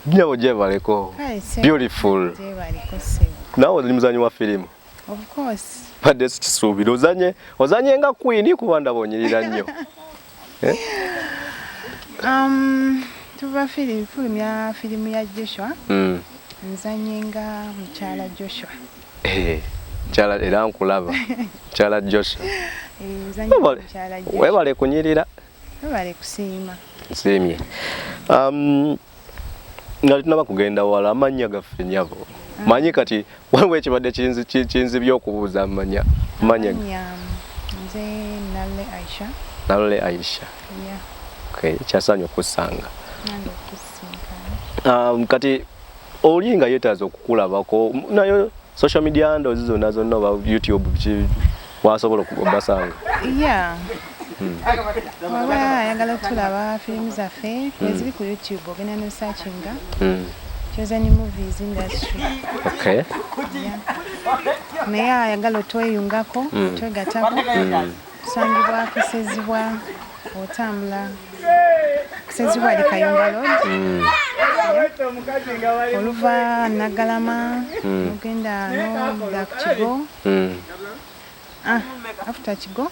Nyabo jebaleko. Beautiful. Jebaleko sebo. Nawe ndi muzanyi wa filimu. Of course. Badde sikisuubira ozanye ozanye nga queen kuba ndabonyerera nnyo. Eh? Um, tuva filimu filimu ya filimu ya Joshua. Mm. Nzanye nga mukyala Joshua. Eh. Chala era nkulaba. Chala Joshua. Eh, nzanye mukyala Joshua. Webale kunyirira. Webale kusiima. Nsiimye. Um, nga tunaba kugenda wala amannya gaffe nyabo mm. manyi kati waliwo ekibadde kinzibye okubuuza amanya manya nze nale aisha nale aisha yeah. okay. kyasaanyi okusanga um, kati oli nga yetaaza okukulabako nayo social media ndozi zonna zonna oba youtube ki wasobola okubasanga yeah hmm. oba ayagala okutulaba firimu zaffe hmm. eziri ku youtube ogenda nosakinga hmm. chosen movies industry okay naye ayagala otweyungako twegatako kusangibwa kusezibwa otambula kusezibwa ali kayunga lod oluva nagalama ogenda noda ku kigo mm. ah, after kigo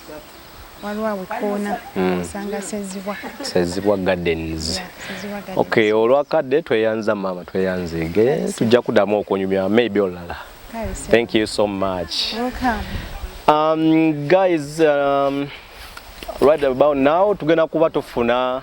waliwo awekoona mm. osanga sezibwa sezibwa gardens yeah, okay olwakadde tweyanza maama tweyanzege tujja kudamu okunyumya maybe olala thank you so much Welcome. Um, guys um, right about now tugenda kuba tufuna